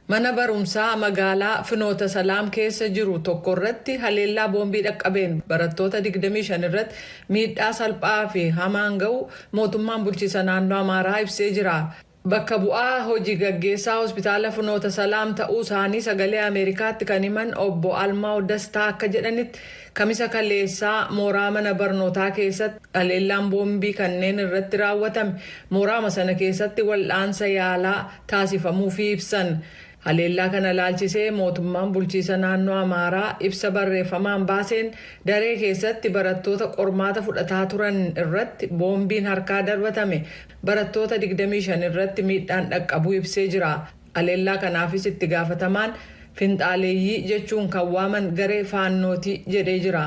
Mana barumsaa magaalaa Finoota Salaam keessa jiru tokkorratti haleellaa boombii dhaqqabeen barattoota 25 irratti miidhaa salphaa fi hamaan ga'uu mootummaan bulchiisa naannoo Amaaraa ibsee jira. Bakka bu'aa hoji gaggeessaa hospitaala Finoota Salaam ta'uu isaanii sagalee Ameerikaatti kan himan obbo Almaaw Dastaa akka jedhanitti Kamisa kaleessaa mooraa mana barnootaa keessatti haleellaan boombii kanneen irratti raawwatame mooraama sana keessatti wal'aansa yaalaa taasifamuufii ibsan. Haleellaa kana ilaalchisee mootummaan bulchiisa naannoo Amaaraa ibsa barreeffamaan baaseen daree keessatti barattoota qormaata fudhataa turan irratti boombiin harkaa darbatame barattoota 25 irratti miidhaan dhaqqabuu ibsee jira. Haleellaa kanaafis itti gaafatamaan finxaaleeyyii jechuun kan waaman garee Faannooti jedhee jira.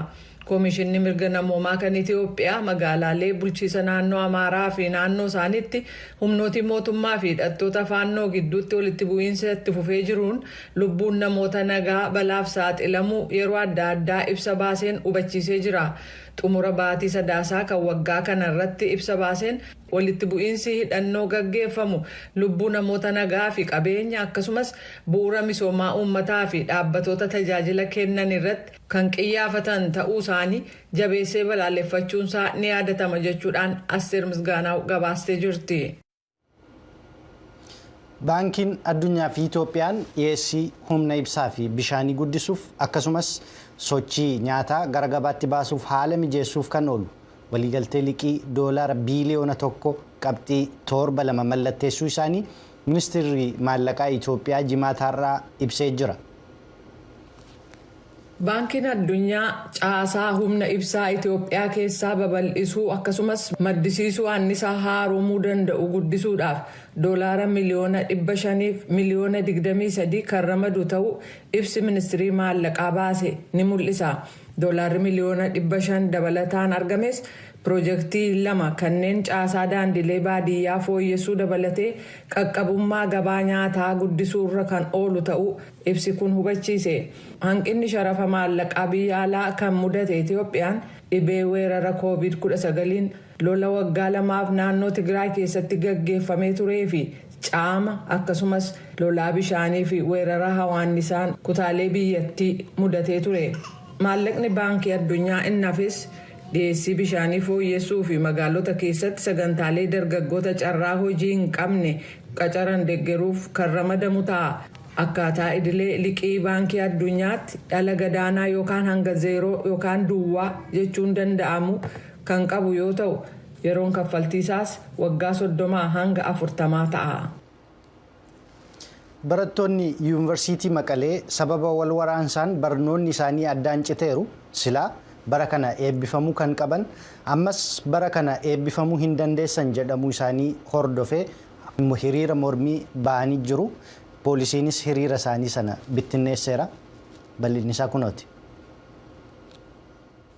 Koomishinni Mirga Namoomaa kan Itiyoophiyaa magaalaalee bulchiisa naannoo Amaaraa fi naannoo isaaniitti humnootii mootummaa fi hidhattoota Faannoo gidduutti walitti bu'iinsa itti fufee jiruun lubbuun namoota nagaa balaaf saaxilamuu yeroo adda addaa ibsa baaseen hubachiisee jira. Xumura baatii Sadaasaa kan waggaa kana irratti ibsa baaseen walitti bu'iinsi hidhannoo gaggeeffamu lubbuu namoota nagaa fi qabeenya akkasumas bu'uura misoomaa uummataa fi dhaabbatoota tajaajila kennan irratti kan qiyyaafatan ta'uu isaanii jabeessee balaaleffachuun isaa ni yaadatama jechuudhaan Asteer Misgaanaaw gabaastee jirti. Baankiin Addunyaa fi Itoophiyaan dhiyeessii humna ibsaa fi bishaanii guddisuuf akkasumas sochii nyaataa gara gabaatti baasuuf haala mijeessuuf kan oolu waliigaltee liqii doolaara biiliyoona tokko qabxii torba lama mallatteessuu isaanii ministeerri maallaqaa Itoophiyaa jimaata har'aa ibsee jira. Baankiin Addunyaa caasaa humna ibsaa Itoophiyaa keessaa babal'isuu akkasumas maddisiisuu annisaa haaromuu danda'u guddisuudhaaf doolaara miliyoona 500f miliyoona 23 kan ramadu ta'uu ibsi Ministirii Maallaqaa baase ni mul'isa. Doolaarri miliyoona 500 dabalataan argames pirojektii lama kanneen caasaa daandiilee baadiyyaa fooyyessuu dabalatee qaqqabummaa gabaa nyaataa guddisuurra kan oolu ta'uu Ibsi kun hubachiise. Hanqinni sharafa maallaqaa biyya alaa kan mudate Itoophiyaan dhibee weerara Kooviid 19n, lola waggaa lamaaf naannoo Tigraay keessatti gaggeeffamee turee fi caama akkasumas lolaa bishaanii fi weerara hawaannisaan kutaalee biyyattii mudatee ture. Maallaqni Baankii Addunyaa inni hafes dhiyeessii bishaanii fooyyessuu fi magaalota keessatti sagantaalee dargaggoota carraa hojii hin qabne qacaran deggeruuf kan ramadamu ta'a. Akkaataa idilee liqii Baankii Addunyaatti dhala gadaanaa yookaan hanga zeeroo yookaan duwwaa jechuun danda'amu kan qabu yoo ta'u, yeroon kaffaltii isaas waggaa 30 hanga 40 ta'a. Barattoonni Yuunvarsiitii Maqalee sababa wal waraansaan barnoonni isaanii addaan citeeru, silaa bara kana eebbifamuu kan qaban ammas bara kana eebbifamuu hin dandeessan jedhamuu isaanii hordofee hiriira mormii ba'anii jiru. Poolisiinis hiriira isaanii sana bittinneesseera. Bal'inni isaa kunooti.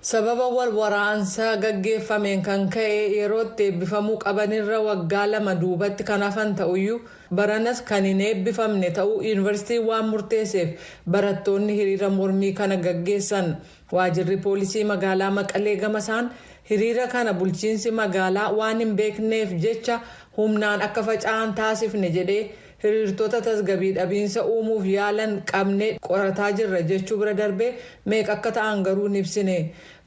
Sababa wal waraansa gaggeeffameen kan ka'e yeroo itti eebbifamuu qabanirra waggaa lama duubatti kan hafan ta'uyyuu baranas kan hin eebbifamne ta'uu yuunivarsiitiin waan murteesseef barattoonni hiriira mormii kana gaggeessan. Waajirri Poolisii Magaalaa Maqalee gamasaan hiriira kana bulchiinsi magaalaa waan hin beekneef jecha humnaan akka faca'an taasifne jedhee hiriirtota tasgabii dhabiinsa uumuuf yaalan qabnee qorataa jirra jechuu bira darbee meeqa akka ta'an garuu hin ibsine.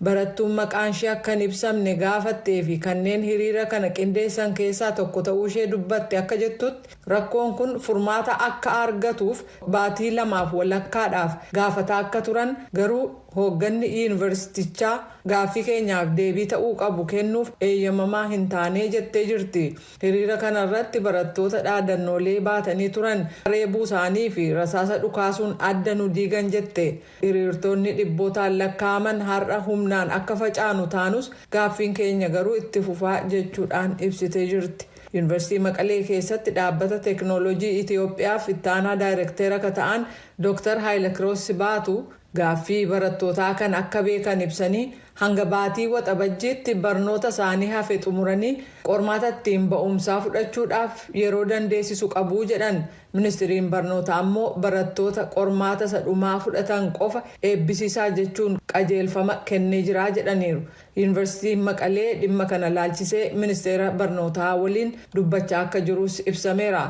Barattuun maqaanshee akka hin ibsamne gaafattee fi kanneen hiriira kana qindeessan keessaa tokko ta'uushee dubbatte akka jettutti, Rakkoon kun furmaata akka aargatuuf baatii lamaaf walakkaadhaaf gaafataa akka turan garuu hoogganni yuunivarsiitichaa gaaffii keenyaaf deebii ta'uu qabu kennuuf eeyyamamaa hin taanee jettee jirti. Hiriira kana irratti barattoota dhaadannoolee baatanii turan reebuusaanii fi rasaasa dhukaasuun adda nu diigan jette. Hiriirtoonni dhibbootaan lakkaa'aman har'a humnaan akka facaanu taanus gaaffiin keenya garuu itti fufaa jechuudhaan ibsitee jirti. Yunivarsiitii Maqalee keessatti Dhaabbata Teeknooloojii Itiyoophiyaaf itti aanaa daayreekteera ka ta'an Dooktar Haayilakiroos Sibaatu gaaffii barattootaa kan akka beekan ibsanii hanga baatii Waxabajjiitti barnoota isaanii hafe xumuranii qormaata ittiin ba'umsaa fudhachuudhaaf yeroo dandeessisu qabu jedhan ministiriin barnoota ammoo barattoota qormaata isa dhumaa fudhatan qofa eebbisiisaa jechuun qajeelfama kennee jira jedhaniiru. Yuunivarsiitiin Maqalee dhimma kana ilaalchisee Ministeera Barnootaa waliin dubbachaa akka jirus ibsameera.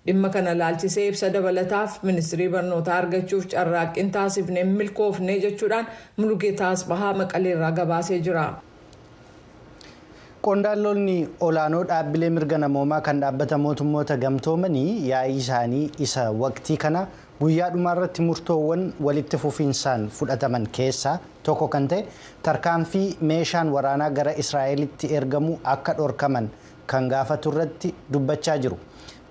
Dhimma kana ilaalchisee ibsa dabalataaf Ministirii Barnootaa argachuuf carraaqqiin taasifne hin milkoofne jechuudhaan Mulugeetaa Atsbahaa Maqaleerraa gabaasee jira. Qondaalonni olaanoo dhaabbilee mirga namoomaa kan Dhaabbata Mootummoota Gamtoomanii yaa'ii isaanii isa waqtii kana Guyyaa dhumaarratti murtoowwan walitti fufiinsaan fudhataman keessaa tokko kan ta'e tarkaanfii meeshaan waraanaa gara Israa'elitti ergamu akka dhorkaman kan gaafaturratti dubbachaa jiru.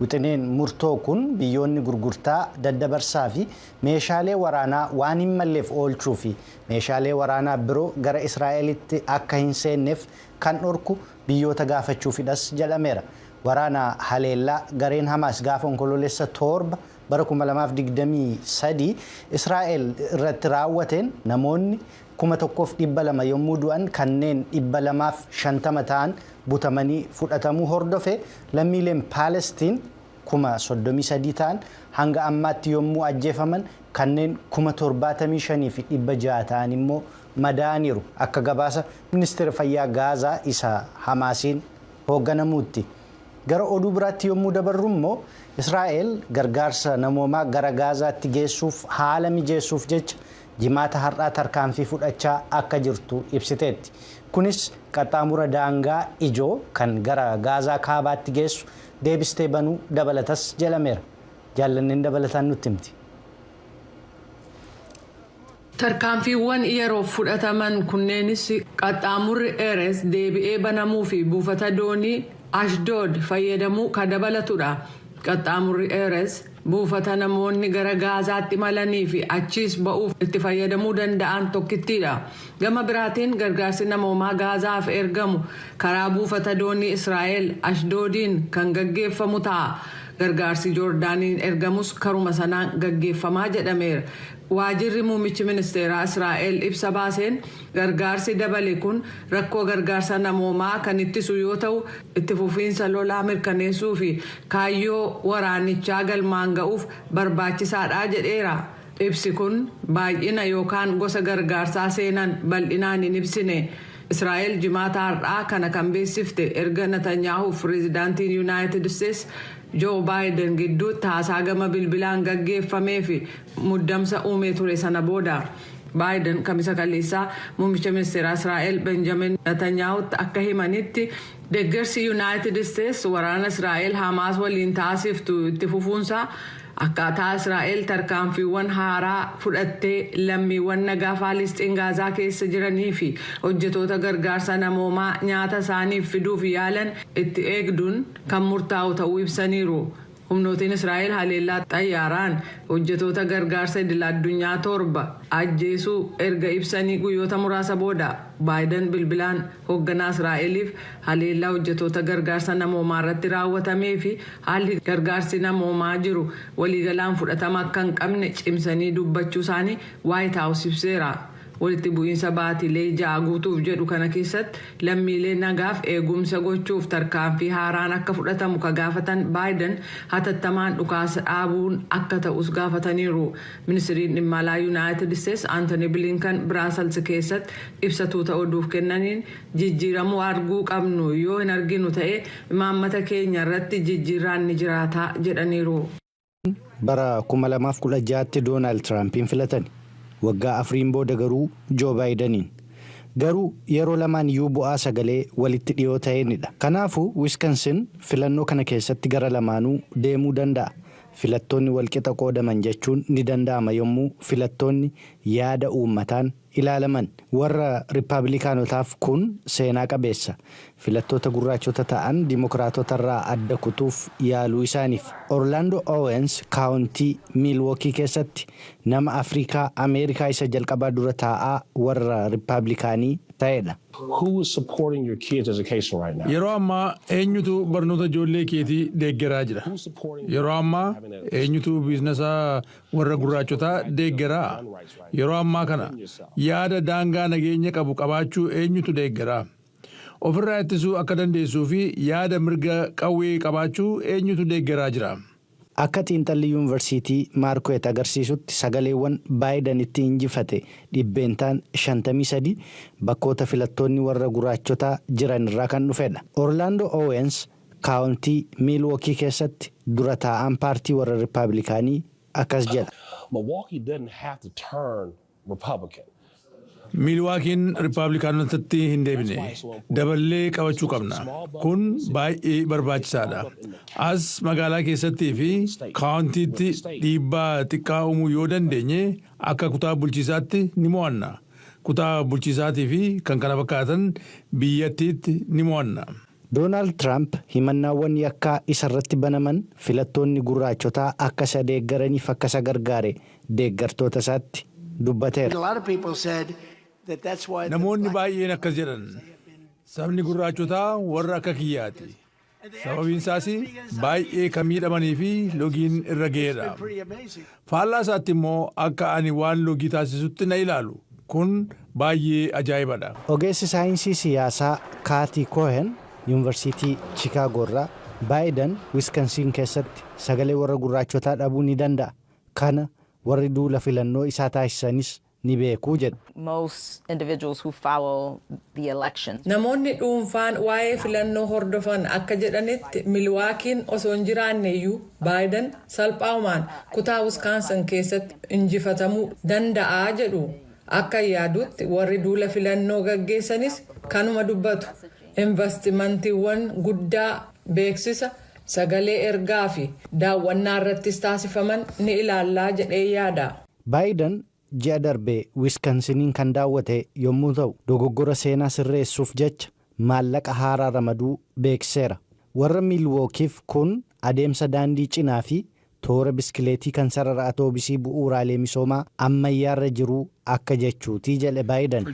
Wixineen murtoo kun biyyoonni gurgurtaa, daddabarsaa fi meeshaalee waraanaa waan hin malleef oolchuu fi meeshaalee waraanaa biroo gara Israa'elitti akka hin seenneef kan dhorku biyyoota gaafachuufidhas jedhameera. Waraana haleellaa gareen Hamaas gaafa Onkoloolessa 7 bara 2023 Israa'el irratti raawwateen namoonni 1,200 yommuu du'an kanneen 250 ta'an butamanii fudhatamuu hordofe lammiileen Paalestiin 33,000 ta'an hanga ammaatti yommuu ajjeefaman kanneen 75,600 ta'an immoo madaa'aniiru akka gabaasa ministeera fayyaa Gaazaa isa Hamaasiin hoogganamuutti. Gara oduu biraatti yommuu dabarru immoo Israa'el gargaarsa namoomaa gara Gaazaatti geessuuf haala mijeessuuf jecha jimaata har'aa tarkaanfii fudhachaa akka jirtu ibsiteetti. Kunis qaxxaamura daangaa ijoo kan gara Gaazaa kaabaatti geessu deebistee banuu dabalatas jedhameera. Jaallanneen dabalataan nutti himti. Tarkaanfiiwwan yeroof fudhataman kunneenis qaxxaamurri Erez deebi'ee banamuu fi buufata doonii Ashdood fayyadamuu ka dabalatu dha. Qaxxaamurri Erez buufata namoonni gara Gaazaatti imalanii fi achiis ba'uuf itti fayyadamuu danda'an tokkittii dha. Gama biraatiin gargaarsi namoomaa Gaazaaf ergamu karaa buufata doonii Israa'el Ashdoodiin kan gaggeeffamu ta'a. Gargaarsi Joordaaniin ergamus karuma sanaan gaggeeffama jedhameera. Waajirri muummichi ministeeraa Israa'el ibsa baaseen gargaarsi dabale kun rakkoo gargaarsa namoomaa kan ittisu yoo ta'u, itti fufiinsa lolaa mirkaneessuu fi kaayyoo waraanichaa galmaan ga'uuf barbaachisaadha jedheera. Ibsi kun baay'ina yookaan gosa gargaarsaa seenan bal'inaan hin ibsine. Israa'el Jimaata har'aa kana kan beeksifte erga Natanyaahuuf pireezidaantiin Yunaayitid Isteets Joo Baayiden gidduutti haasaa gama bilbilaan gaggeeffamee fi muddamsa uumee ture sana booda. Baayiden Kamisa kaleessaa muummicha ministeeraa Israa'el Benjamin Natanyahutti akka himanitti deggersi Yunaayitid Isteets waraana Israa'el Hamaas waliin taasiftu itti fufuunsaa akkaataa Israa'el tarkaanfiiwwan haaraa fudhattee lammiiwwan nagaa Faalisxiin Gaazaa keessa jiranii fi hojjetoota gargaarsa namoomaa nyaata isaaniif fiduuf yaalan itti eegduun kan murtaa'u ta'uu ibsaniiru. Humnootiin Israa'el haleellaa xayyaaraan hojjetoota gargaarsa idil-addunyaa torba ajjeesuu erga ibsanii guyyoota muraasa booda, Baayidan bilbilaan hogganaa Israa'eliif haleellaa hojjetoota gargaarsa namoomaarratti raawwatamee fi haalli gargaarsi namoomaa jiru waliigalaan fudhatama akka hin qabne cimsanii dubbachuusaanii Waayit Haawus ibseera. Walitti bu'iinsa baatilee ja'a guutuuf jedhu kana keessatti lammiilee nagaaf eegumsa gochuuf tarkaanfii haaraan akka fudhatamu ka gaafatan Baayiden, hatattamaan dhukaasa dhaabuun akka ta'us gaafataniiru. Ministiriin Dhimma Alaa Yunaayitid Isteets Antony Blinken Biraasels keessatti ibsa tuuta oduuf kennaniin, jijjiiramuu arguu qabnu yoo hin arginu ta'e imaammata keenya irratti jijjiirraan ni jiraata jedhaniiru. bara 2016tti Doonaald Tiraampiin filatani. Waggaa afriin booda garuu Joo Baayidaniin. Garuu yeroo lamaan iyyuu bu'aa sagalee walitti dhiyoo ta'een dha. Kanaafu Wiskansin filannoo kana keessatti gara lamaanuu deemuu danda'a. Filattoonni walqixa qoodaman jechuun ni danda'ama yommuu filattoonni yaada uummataan. ilaalaman warra Rippabilikaanotaaf kun seenaa qabeessa. Filattoota gurraachota ta'an Dimokiraatotarraa adda kutuuf yaaluu isaaniif. Orlaandoo Owens Kaawuntii, Miilwookii keessatti nama Afriikaa Ameerikaa isa jalqabaa dura taa'aa warra Rippabilikaanii ta'edha. Yeroo ammaa eenyutu barnoota ijoollee keetii deeggaraa jira? Yeroo ammaa eenyutu biiznasa Warra gurraachotaa deeggaraa? Yeroo ammaa kana yaada daangaa nageenya qabu qabaachuu eenyutu deeggara? Ofirraa ittisuu akka dandeessuu fi yaada mirga qawwee qabaachuu eenyutu deeggaraa jira? Akka xiinxalli Yuunvarsiitii Maarkuweet agarsiisutti sagaleewwan Baayidan ittiin injifate dhibbeentaan 53 bakkoota filattoonni warra guraachotaa jiran irraa kan dhufedha. Orlaandoo Oowens kaawuntii Miilwookii keessatti dura taa'aan paartii warra Rippabilikaanii akkas jedha. Miilwaakiin Rippabilikaanotatti hin deebine. Daballee qabachuu qabna. Kun baay'ee barbaachisaa dha. As magaalaa keessattii fi kaawuntiitti dhiibbaa xiqqaa uumuu yoo dandeenye akka kutaa bulchiisaatti ni mo'anna. Kutaa bulchiisaatii fi kan kana fakkaatan biyyattiitti ni mo'anna. Doonaald Tiraamp himannaawwan yakkaa isarratti banaman filattoonni gurraachotaa akka isa deeggaraniif akka isa gargaare deeggartootasaatti dubbateera. Namoonni baay'een akkas jedhan, Sabni gurraachotaa warra akka kiyyaati. Sababiinsaas baay'ee kan miidhamaniifi logiin irra ga'edha. Faallaa isaatti immoo akka ani waan loogii taasisutti na ilaalu. Kun baayyee ajaa'iba dha. Ogeessi saayinsii siyaasaa Kaatii Koohen Yuunvarsiitii Chikaagoo irraa, Baayidan Wiskansiin keessatti sagalee warra gurraachotaa dhabuu ni danda'a, kana warri duula filannoo isaa taasisanis ni beeku jedhu. most individuals who follow the elections. Namoonni dhuunfaan waa'ee filannoo hordofan akka jedhanitti Milwaakiin osoo hin jiraanneyyuu Baayidan salphaumaan kutaa Wiskaansan keessatti injifatamuu danda'a jedhu. Akkan yaadutti warri duula filannoo gaggeessanis kanuma dubbatu. Invastimantiiwwan guddaa beeksisa, sagalee ergaa fi daawwannaarrattis taasifaman ni ilaalla jedheen yaada. Baayidan ji'a darbe Wiskansiniin kan daawwate yommuu ta'u, dogoggora seenaa sirreessuuf jecha maallaqa haaraa ramaduu beeksiseera. Warra Miilwookiif kun adeemsa daandii cinaa fi toora biskileetii kan sarara atoobisii bu'uuraalee misoomaa ammayyaarra jiruu akka jechuuti jedhe Baayidan.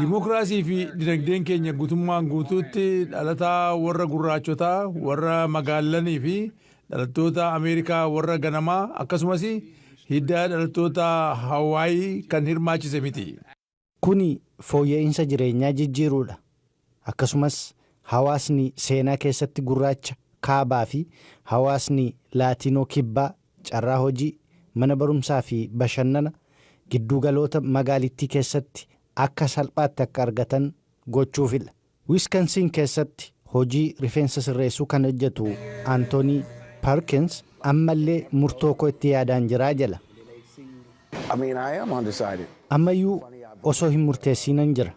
Dimokiraasii fi dinagdeen keenya gutummaan guutuutti dhalataa warra gurraachotaa, warra magaallanii fi dhalattoota Ameerikaa warra ganamaa akkasumas hidda dhalattoota Hawaayii kan hirmaachise miti. Kuni fooyya'iinsa jireenyaa jijjiiruudha. Akkasumas hawaasni seenaa keessatti gurraacha Kaabaa fi hawaasni Laatiinoo Kibbaa carraa hojii, mana barumsaa fi bashannana gidduugaloota magaalittii keessatti akka salphaatti akka argatan gochuufidha. Wiskansiin keessatti hojii rifeensa sirreessuu kan hojjetu Antoonii Parkins ammallee murtoo koo itti yaadaan jira jedha. Ammayyuu osoo hin murteessiinan jira.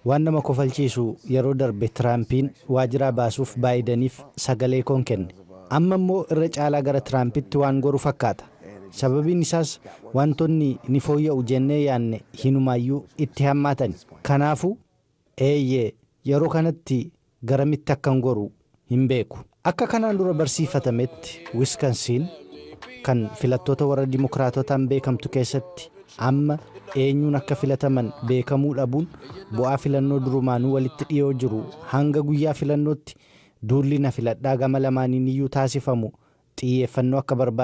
Waan nama kofalchiisu yeroo darbe Tiraampiin waajiraa baasuuf Baayidaniif sagalee koon kenne. Amma immoo irra caalaa gara Tiraampitti waan goru fakkaata. Sababiin isaas waantonni ni fooyya'u jennee yaadne hinumaayyuu itti hammaatani. Kanaafuu Eeyyee, yeroo kanatti garamitti akkan goru hin beeku. Akka kanaan dura barsiifatametti Wiskansiin, kan filattoota warra Dimokiraatotaan beekamtu keessatti amma eenyuun akka filataman beekamuu dhabuun bu'aa filannoo durumaanuu walitti dhiyoo jiru hanga guyyaa filannootti duulli na filadhaa gama lamaaniiniyyuu taasifamu xiyyeeffannoo akka barbaadu